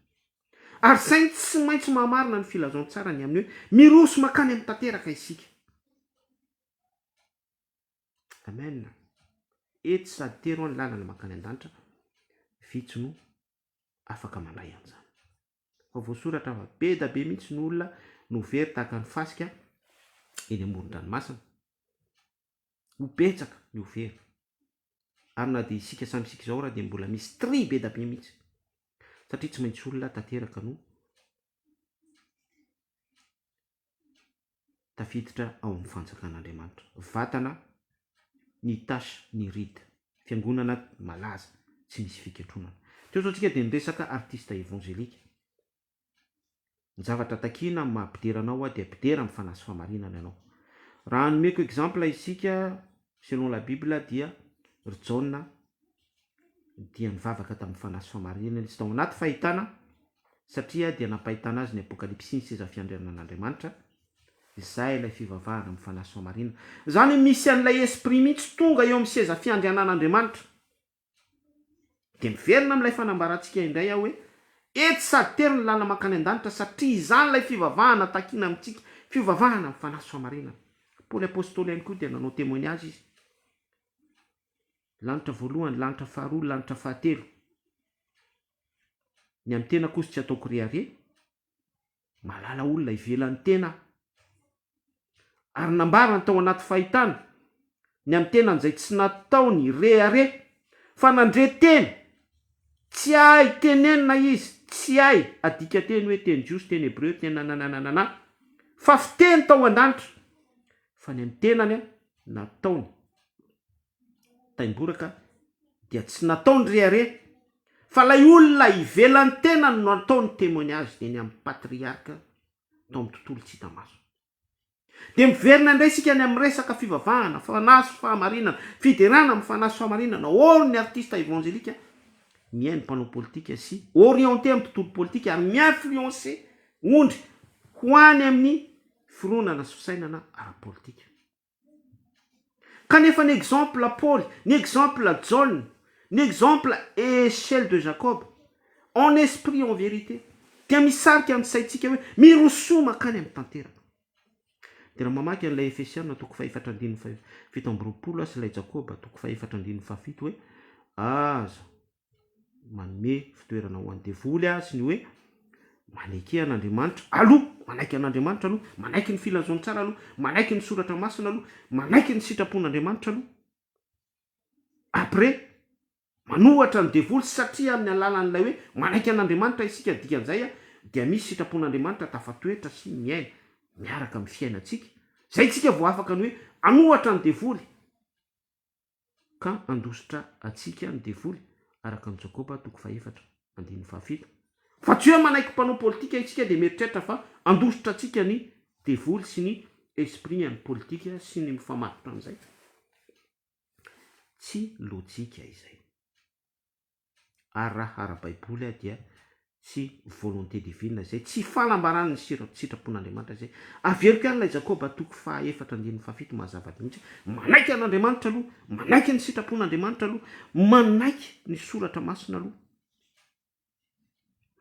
[SPEAKER 1] Ary saingy tsy maintsy mahamarina ny filazantsara ny amin'ny hoe miroho sy mankany amin'ny tanteraka isika. Amen. Etsy sady teroa ny lalana mankany an-danitra, vitsy no afaka mandray an'izany. Fa voasoratra fa be da be mihitsy ny olona no very tahaka ny fasika eny amoron-dranomasina. ho betsaka ny ho very ary na dia isika samy isika izao ary dia mbola misy tri be da be mihitsy satria tsy maintsy olona tanteraka no tafiditra ao amin'ny fanjakan'Andriamanitra vatana ny tache ny rid fiangonana malaza tsy misy fikatronana teo izao tsika dia miresaka artiste évangélique Ny zavatra takiana amin'ny maha mpidera anao aho dia mpidera amin'ny fanahy sy fahamarinana ianao. Raha hanomeko exemple isika selon la bible dia ry Jaona dia nivavaka tamin'ny fanahy sy fahamarinana izy tao anaty fahitana satria dia nampahitana azy ny apokalipsy ny seza fiandrianan'Andriamanitra izay ilay fivavahana amin'ny fanahy sy fahamarinana. Izany hoe misy an'ilay esprit mihitsy tonga eo amin'ny seza fiandrianan'Andriamanitra. Dia miverina amin'ilay fanambarantsika indray aho hoe, Etsy sady tery ny lalana mankany an-danitra, satria izany ilay fivavahana takiana amintsika, fivavahana amin'ny fanahy sy fahamarinana. Paoly Apostoly ihany koa dia nanao temoignazy izy. Lanitra voalohany, lanitra faharoa, lanitra fahatelo. Ny amin'ny tena kosa tsy ataoko rehareha. Mahalala olona ivelan'ny tena aho, ary nambarany tao anaty fahitana ny an'ny tenany izay tsy nataony hirehareha, fa nandre teny tsy hay tenenina izy, tsy hay adika teny hoe teny jiosy, teny hebreo, teny nananananana, fa fiteny tao an-danitra, fa ny an'ny tenany nataony. taimboraka dia tsy natao ny rehareha fa ilay olona ivelan'ny tenany no atao ny témoignage eny amin'ny patriarka tao amin'ny tontolo tsy hita maso. Dia miverina indray isika any amin'ny resaka fivavahana, fanahy sy fahamarinana, fiderana amin'ny fanahy sy fahamarinana or ny artista evanjelika mihaino ny mpanao politika sy orienté amin'ny tontolo politika ary mi-influencer ondry ho any amin'ny fironana sy fisainana ara-politika. Kanefa ny exemple Paoly, ny exemple Jaona, ny exemple Echelle de Jacob, en esprit en vérité, dia misarika ny saintsika hoe mirosoa mankany amin'ny tanteraka. Dia raha mamaky an'ilay Efesiana toko fahefatra andininy fahafito amby roapolo aho sy ilay Jakoba toko fahefatra andininy fahafito hoe, Aza manome fitoerana ho an'ny devoly aho sy ny hoe maneke an'Andriamanitra aloha, manaiky an'Andriamanitra aloha, manaiky ny filazantsara aloha, manaiky ny soratra masina aloha, manaiky ny sitrapon'Andriamanitra aloha. Après, manohatra ny devoly satria amin'ny alalan'ilay hoe manaiky an'Andriamanitra isika dikan'izay dia misy sitrapon'Andriamanitra tafatoetra sy miaina miaraka amin'ny fiainantsika. Izay isika vao afaka ny hoe hanohatra ny devoly. ka handositra antsika ny devoly, araka amin'i Jakoba toko fahefatra andininy fahafito. Fa tsy hoe manaiky mpanao politika isika dia mieritreritra fa handositra antsika ny devoly sy ny esprit an'ny politika sy ny mifamatotra amin'izay. Tsy lojika izay. ary raha ara-baiboly aho dia tsy volonté divine izay, tsy fanambarana ny sitrapon'Andriamanitra izay, averiko ihany ilay Jakoba toko faha efatra andininy faha fito mazava mihitsy, manaiky an'Andriamanitra aloha, manaiky ny sitrapon'Andriamanitra aloha, manaiky ny soratra masina aloha.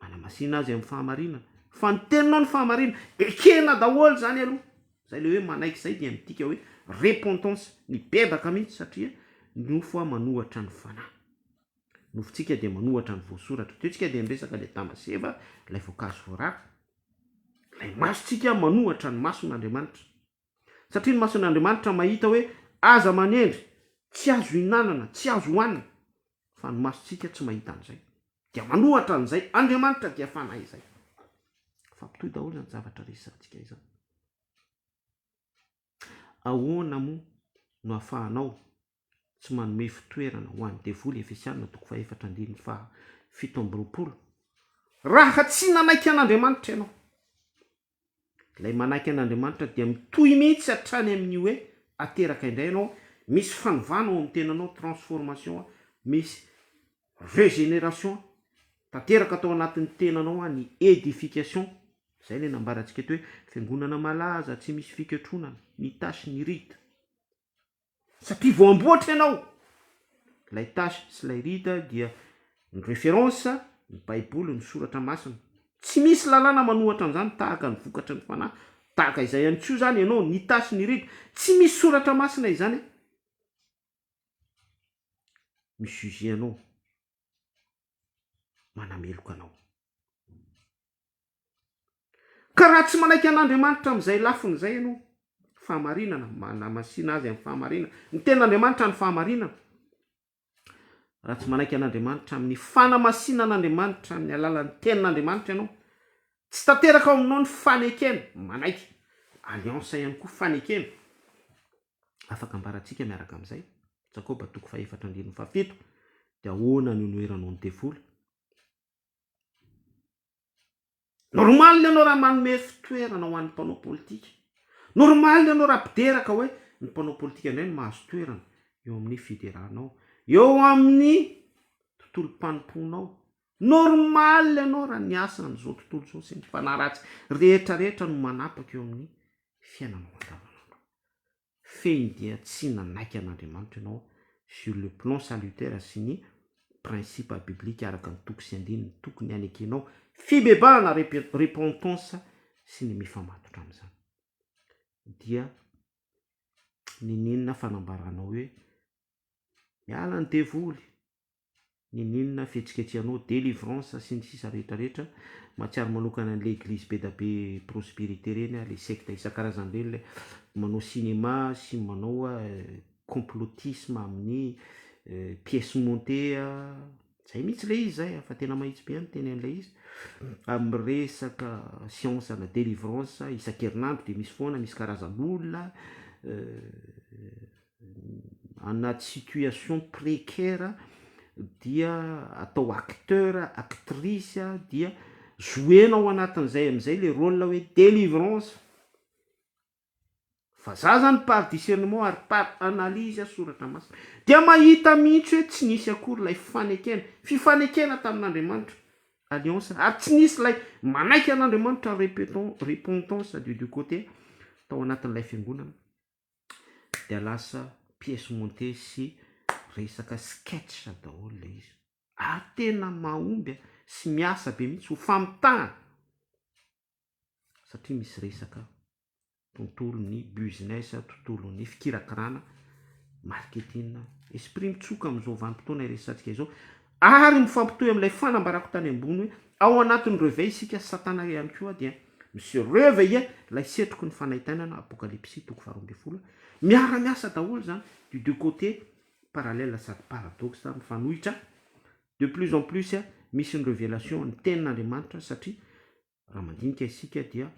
[SPEAKER 1] Manamasina azy amin'ny fahamarinana. Fa ny teninao ny fahamarinana. Ekena daholo izany aloha. Izay ilay hoe manaiky izay dia midika hoe repentance, mibebaka mihitsy satria nofo aho manohatra ny fanahy. Ny nofontsika dia manohatra ny voasoratra. Teo isika dia niresaka ilay Adama sy Eva, ilay voankazo voarara. Ilay masontsika manohatra ny mason'Andriamanitra. Satria ny mason'Andriamanitra mahita hoe aza manendry, tsy azo hihinanana, tsy azo hohanina. Fa ny masontsika tsy mahita an'izay. Dia manohatra an'izay. Andriamanitra dia Fanahy izay. Fa mitohy daholo izany zavatra resahantsika izany. Ahoana moa no ahafahanao tsy manome fitoerana ho an'ny devoly Efesiana toko fahefatra andininy faha fito amby roapolo Raha tsy nanaiky an'Andriamanitra ianao Ilay manaiky an'Andriamanitra dia mitohy mihitsy hatrany amin'ny hoe ateraka indray ianao Misy fanovana ao amin'ny tenanao transformation Misy régénération tanteraka tao anatin'ny tenanao an ny édification Izay ilay nambarantsika eto hoe fiangonana malaza tsy misy fikatronana Ny tâche ny rite satria vao amboatra ianao, ilay tâche sy ilay rite dia ny référence, ny baiboly, ny soratra masina, tsy misy lalàna manohatra an'izany tahaka ny vokatry ny fanahy, tahaka izay ihany koa izany ianao, ny tâche, ny rite, tsy misy soratra masina izany an! mi-juger anao, manameloka anao. Ka raha tsy manaiky an'Andriamanitra amin'izay lafiny izay ianao, fahamarinana, manamasina azy amin'ny fahamarinana, ny tenin'Andriamanitra no fahamarinana, raha tsy manaiky an'Andriamanitra amin'ny fanamasinan'Andriamanitra amin'ny alalan'ny tenin'Andriamanitra ianao, tsy tanteraka ao aminao ny fanekena, manaiky alliance ihany koa fanekena, afaka ambarantsika miaraka amin'izay, Jakoba toko fahefatra andininy fahafito, dia ahoana no noheranao ny devoly? Normal ianao raha manome fitoerana ho an'ny mpanao politika. Normal ianao raha mpidera ka hoe ny mpanao politika indray no mahazo toerana eo amin'ny fideranao, eo amin'ny tontolom-panompoanao. Normal ianao raha ny asan'izao tontolo izao sy ny fanahy ratsy rehetra rehetra no manapaka eo amin'ny fiainanao andavanandro. fehiny dia tsy nanaiky an'Andriamanitra ianao sur le plan salutaire sy ny principe biblique araka ny toko sy andininy tokony hanekenao fibebahana repentance sy ny mifamatotra amin'izany dia niniana fanambaranao hoe miala ny devoly N'inon'inona fihetsiketsehanao, délivrance sy ny sisa rehetra rehetra, mahatsiaro manokana an'ilay eglizy bedabe prospérité ireny aho, ilay secte isan-karazany ireny ilay manao cinéma sy manao complotisme amin'ny pièce montée a, zay mihitsy ilay izy zay fa tena mahitsy be aho miteny an'ilay izy, amin'ny resaka science ana délivrance isan-kerinandro dia misy foana, misy karazan'olona, anaty situation précaire dia atao acteur, actrice dia jouena ao anatin'izay amin'izay le rôle hoe délivrance, fa za zany par discernement ary par analyse soratra masina dia mahita mihitsy hoe tsy nisy akory ilay fanekena, fifanekena tamin'Andriamanitra, alliance, ary tsy nisy ilay manaiky an'Andriamanitra, repentance du côté tao anatin'ilay fiangonana. dia lasa pièce montée sy resaka sketch daholo ilay izy ary tena mahomby sy miasa be mihitsy ho famitahana satria misy resaka tontolon'ny business, tontolon'ny fikirakirana, marketing, esprit mitsoka amin'izao vanim-potoana iresahantsika izao. Ary mifampitohy amin'ilay fanambarako tany ambony hoe, Ao anatin'ny reve isika, Satana ihany koa dia mi-se reveiller, ilay setroky ny fanaintainana, Apokalypsy toko faharoa ambin'ny folo, miara-miasa daholo izany, du deux côtés, parallèle sady paradoxe, mifanohitra, de plus en plus misy ny revelation ny tenin'Andriamanitra satria raha mandinika isika dia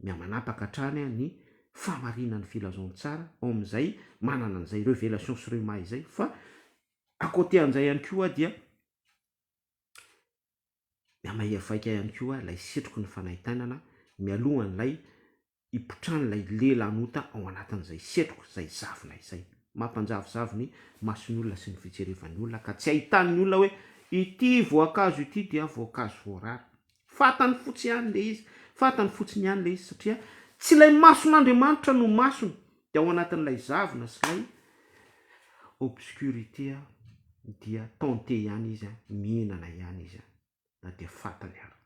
[SPEAKER 1] mihamanapaka hatrany ny fahamarinan'ny filazantsara ao amin'izay manana an'izay revelation sy rhema izay fa à côté an'izay ihany koa dia mihamairy vaika ihany koa ilay setroky ny fanahy tainana mialohan'ilay hipotran'ilay lelanota ao anatin'izay setroka izay zavona izay mampanjavozavo ny mason'ny olona sy ny fijerevan'ny olona ka tsy hahitan'ny olona hoe ity voankazo ity dia voankazo voarara Fantany fotsy ihany ilay izy, fantany fotsiny ihany ilay izy satria tsy ilay mason'Andriamanitra no masony dia ao anatin'ilay zavona sy ilay obscurité dia tenter ihany izy, mihinana ihany izy na dia fantany ary.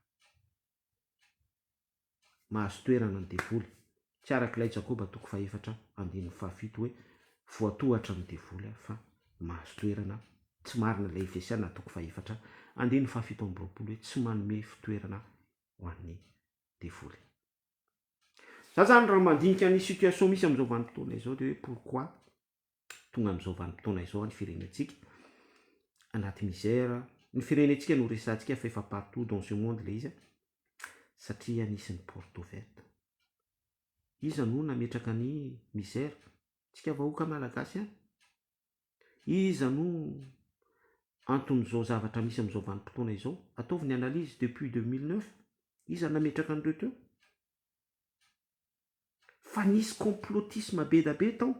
[SPEAKER 1] Mahazo toerana ny devoly tsy araka ilay Jakoba toko fahefatra andininy fahafito hoe voatohatra ny devoly aho fa mahazo toerana, tsy marina ilay Efesiana toko fahefatra andininy fahafito amby roapolo hoe tsy manome fitoerana ho an'ny devoly. Za zany raha mandinika ny situation misy amin'izao vanim-potoana izao dia hoe pourquoi tonga amin'izao vanim-potoana izao ny firenentsika anaty misère, ny firenentsika no resahantsika fa efa partout dans ce monde ilay izy an, satria nisy ny porte ouverte, iza no nametraka ny misère? Tsika vahoaka malagasy ihany, iza no anton'izao zavatra misy amin'izao vanim-potoana izao? Ataovy ny analyse depuis deux mille neuf, iza nametraka an'ireo teo? fa nisy complotisme bedabe tao.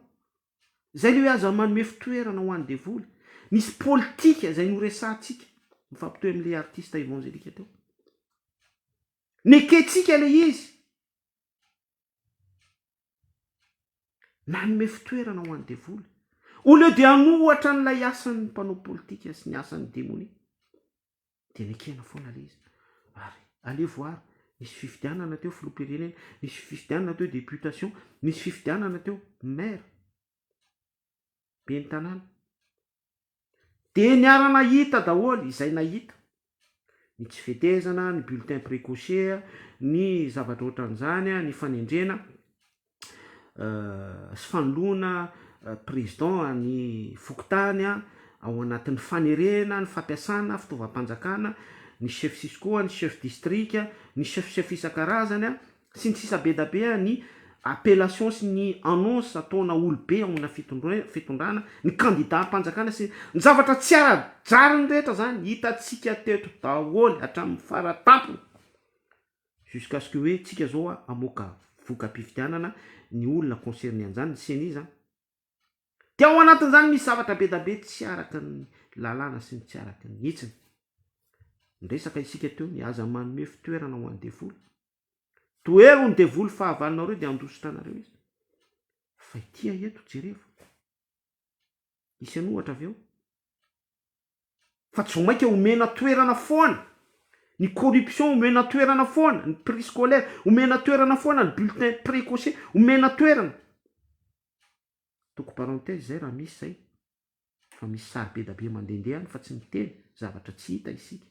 [SPEAKER 1] Zay le hoe aza manome fitoerana ho any devoly. Nisy politika izay noresahantsika, mifampitohy amin'ilay artiste evangelika teo. Nekentsika le izy. Nanome fitoerana ho any devoly. Au lieu de hanohatra an'ilay asan'ny mpanao politika sy ny asan'ny demonia. dia nekena foana ilay izy ary allez voir nisy fifidianana teo filoham-pirenena, nisy fifidianana teo députation, nisy fifidianana teo maire, ben'ny tanàna. Dia niara-nahita daholo izay nahita, ny tsy fetezana, ny bulletin précoce, ny zavatra ohatran'izany, ny fanendrena. sy fanoloana président any fokontany ao anatin'ny fanerena ny fampiasana fitaovam-panjakana ny chef cisco, ny chef distrika, ny chef chef isan-karazany sy ny sisa be dia be ny appellation sy ny annonce ataona olobe ao amina fitondrana, ny kandidam-panjakana sy ny zavatra tsy ara-drariny rehetra izany hitantsika teto daholo hatramin'ny fara-tampony. jusqu'à ce que hoe tsika zao a amoaka voka-pifidianana ny olona concerné an'zany ny ceni zany de ao anatin'zany misy zavatra be da be tsy araka ny lalàna sy ny tsy araka ny hitsiny niresaka isika teo ny aza manome fitoerana ho an'ny devoly tohero ny devoly fahavalonareo de handositra anareo izy fa ity ahy eto jerevo misy an'ohatra avy eo fa tsy vao maika omena toerana foana ny corruption, omena toerana foana ny prix scolaire, omena toerana foana ny bulletin precoce, omena toerana. Atoko parenthèse zay raha misy zay fa misy sary be da be mandendeha any fa tsy miteny zavatra tsy hita isika.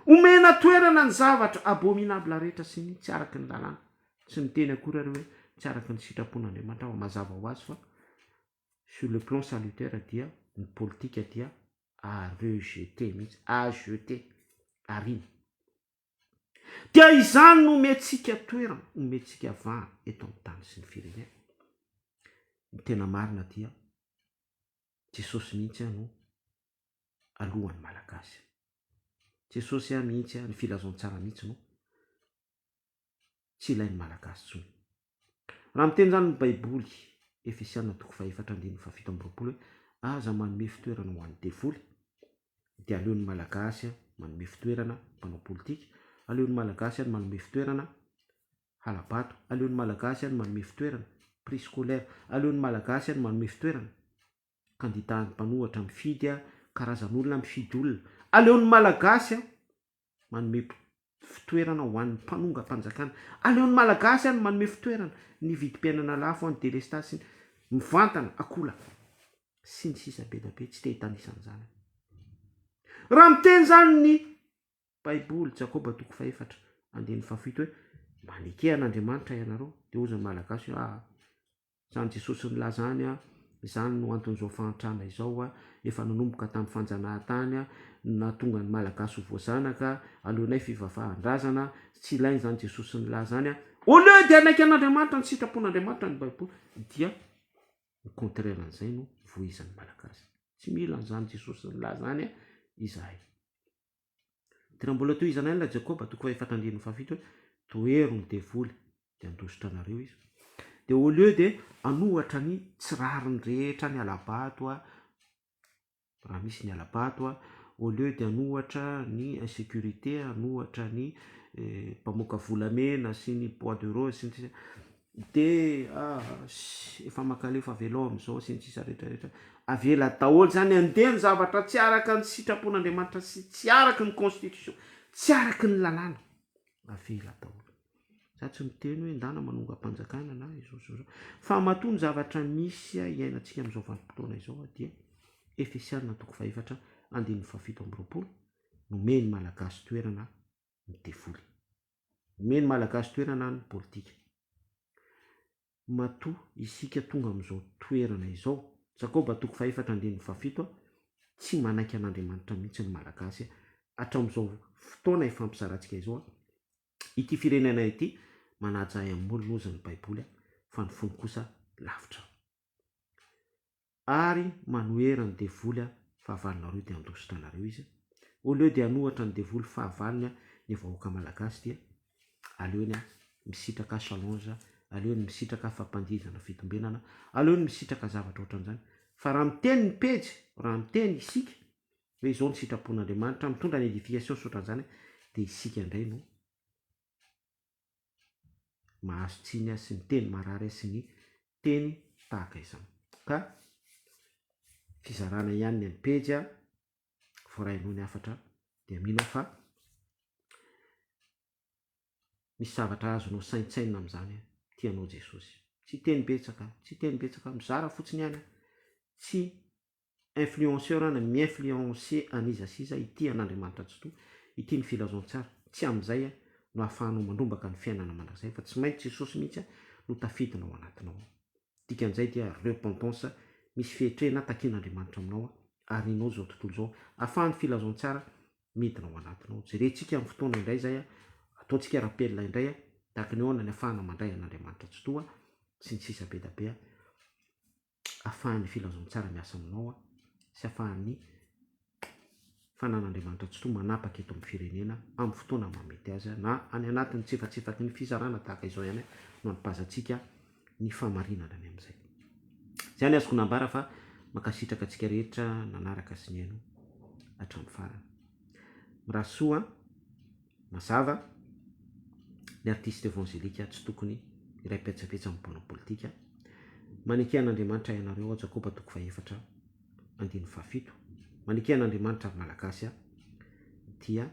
[SPEAKER 1] Omena toerana ny zavatra abominable rehetra sy ny tsy araka ny lalàna. Tsy miteny akory ary hoe tsy araka ny sitrapon'Andriamanitra aho, mazava ho azy fa sur le plan salutaire dia ny politika dia à rejeter mihitsy, à jeter, arina. Dia izany no omentsika toerana, omentsika vahana eto amin'ny tany sy ny firenena. Ny tena marina dia Jesosy mihitsy no alohan'ny Malagasy. Jesosy mihitsy, ny filazantsara mihitsy no tsy ilain'ny Malagasy intsony. Raha miteny izany ny Baiboly, Efesiana toko fahefatra andininy fahafito amby roapolo hoe, Aza manome fitoerana ho an'ny devoly, dia aleon'ny Malagasy manome fitoerana mpanao politika, aleon'ny Malagasy any manome fitoerana hala-bato, aleon'ny Malagasy any manome fitoerana prix scolaire, aleon'ny Malagasy any manome fitoerana kandida mpanohatra mifidy, karazan'olona mifidy olona, aleon'ny Malagasy manome fitoerana ho an'ny mpanongam-panjakana. Aleon'ny Malagasy any manome fitoerana ny vidim-piainana lafo any delestazy sy ny mivantana akolaka sy ny sisa be dia be tsy te hitanisa an'izany aho. Raha miteny izany ny baiboly Jakoba toko fahaefatra andininy fahafito hoe maneke an'Andriamanitra ianareo dia hozy ny Malagasy hoe aa Izany Jesosy nilaza any, izany no anton'izao fahantrana izao efa nanomboka tamin'ny fanjanahantany no nahatonga ny Malagasy ho voazanaka, aleonay fivafahan-drazana, tsy ilaina izany Jesosy nilaza izany, au lieu dia hanaiky an'Andriamanitra, ny sitrapon'Andriamanitra, ny Baiboly, dia ny contraire an'izay no vohizan'ny Malagasy. Tsy mila an'izany Jesosy nilaza izany izahay. Tena mbola tohizana ihany ilay Jakoba, toko fahefatra andininy fahafito hoe, Tohero ny devoly, dia handositra anareo izy. Dia au lieu dia hanohatra ny tsy rariny rehetra ny hala-bato, raha misy ny hala-bato, au lieu dia hanohatra ny insécurité, hanohatra ny eh, mpamoaka volamena sy ny bois de rose sy ny sisa, DH, efa makaleo fa avelao amin'izao sy ny sisa rehetra rehetra. Avela daholo izany handeha ny zavatra tsy araka ny sitrapon'Andriamanitra sy tsy araka ny constitution, tsy araka ny lalàna. Avela daholo. Za tsy miteny hoe ndana manongam-panjakana na izao sy izao. Fa matoa ny zavatra misy iainantsika amin'izao vanim-potoana izao dia Efesiana toko fahefatra andininy fahafito amby roapolo, nomeny Malagasy toerana ny devoly. Omey ny Malagasy toerana ny politika. Matoa isika tonga amin'izao toerana izao, Jakoba toko fahefatra andininy fahafito, tsy manaiky an'Andriamanitra mihitsy ny Malagasy hatramin'izao fotoana ifampizarantsika izao. Ity firenena ity manaja ahy amin'ny molony hozy ny Baiboly fa ny fony kosa lavitra ahy. ary manohera ny devoly a fahavalonareo de andositra anareo izy au lieu de anohatra ny devoly fahavalony a ny vahoaka malagasy dia aleony a misitraka challenge aleony misitraka fampandihizana fitombenana aleony misitraka zavatra ohatran'izany fa raha miteny ny pejy raha miteny isika hoe izao ny sitrapon'Andriamanitra mitondra ny edification sy ohatran'izany dia isika indray no mahazo tsiny azy sy miteny marary azy sy ny teny tahaka izany. Ka fizarana ihany ny an'ny pejy a, voarahinao ny hafatra dia mino aho fa misy zavatra azonao saintsainina amin'izany a, tia anao Jesosy. Tsy hiteny betsaka, tsy hiteny betsaka, mizara fotsiny ihany a, tsy influenceur na mi-influencer an'iza sy iza ity an'Andriamanitra Tsitoha ity ny filazantsara, tsy amin'izay no ahafahanao mandrombaka ny fiainana mandrakizay fa tsy maintsy Jesosy mihitsy no tafidina ao anatinao ao. Dikan'izay dia repentance misy fehitrehina takian'Andriamanitra aminao arianao izao tontolo izao ahafahan'ny filazantsara midina ao anatinao. Jerentsika ny fotoana indray izay ataontsika rappel indray tahaka ny ahoana ny ahafahana mandray an'Andriamanitra Tsitoha sy ny sisa be dia be. afahan'ny filazantsara miasa aminao an, sy afahan'ny fanan'Andriamanitra Tsitoha manapaka eto amin'ny firenena amin'ny fotoana maha mety azy an, na any anatin'ny tsifantsefaky ny fizarana tahaka izao ihany an, no anipazantsika ny fahamarinana any amin'izay. Izay ny azoko nambara fa mankasitraka antsika rehetra nanaraka sy nihaino hatramin'ny farany. Mirary soa an. Mazava, ny artista evanjelika tsy tokony hiray petsapetsa amin'ny mpanao politika. Maneke an'Andriamanitra ianareo ao Jakoba toko fahefatra andininy fahafito. Maneke an'Andriamanitra ry Malagasy a! dia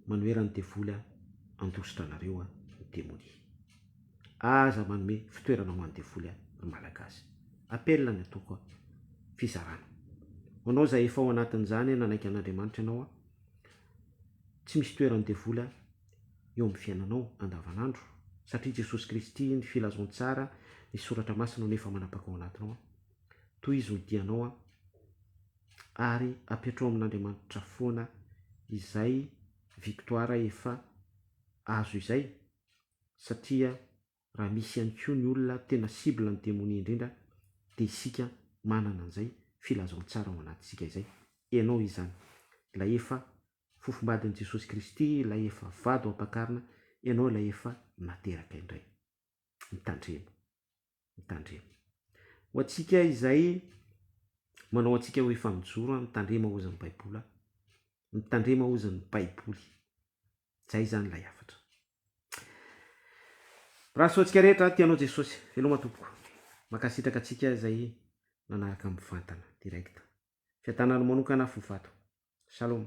[SPEAKER 1] manoheran'ny devoly a! handositra anareo a! ny demonia. Aza manome fitoerana ho any devoly any ry Malagasy. Appel ny ataoko an. Fizarana. Ho anao izay efa ao anatin'izany an nanaiky an'Andriamanitra ianao an. Tsy misy toeran'ny devoly an eo amin'ny fiainanao andavan'andro satria Jesosy Kristy, ny Filazantsara, ny Soratra Masina no efa manapaka ao anatinao an. Tohizo ny dianao an. Ary apetraho amin'Andriamanitra foana izay victoire efa azo izay. satria raha misy ihany koa ny olona tena cible ny demonia indrindra dia isika manana an'izay filazantsara ao anatintsika izay, ianao izany, ilay efa fofombadin'i Jesosy Kristy, ilay efa vady ho ampakarina, ianao ilay efa nateraka indray. Mitandrema. mitandrema. Ho antsika izay manao antsika hoe efa mijoro a, mitandrema hozy ny baiboly a, mitandrema hozy ny baiboly. Zay zany lay hafatra. Raha soa antsika rehetra tia anao Jesosy. Veloma tompoko. Mankasitraka antsika izay nanaraka mivantana direct. Fiadanana manokana fo fato. Shalom.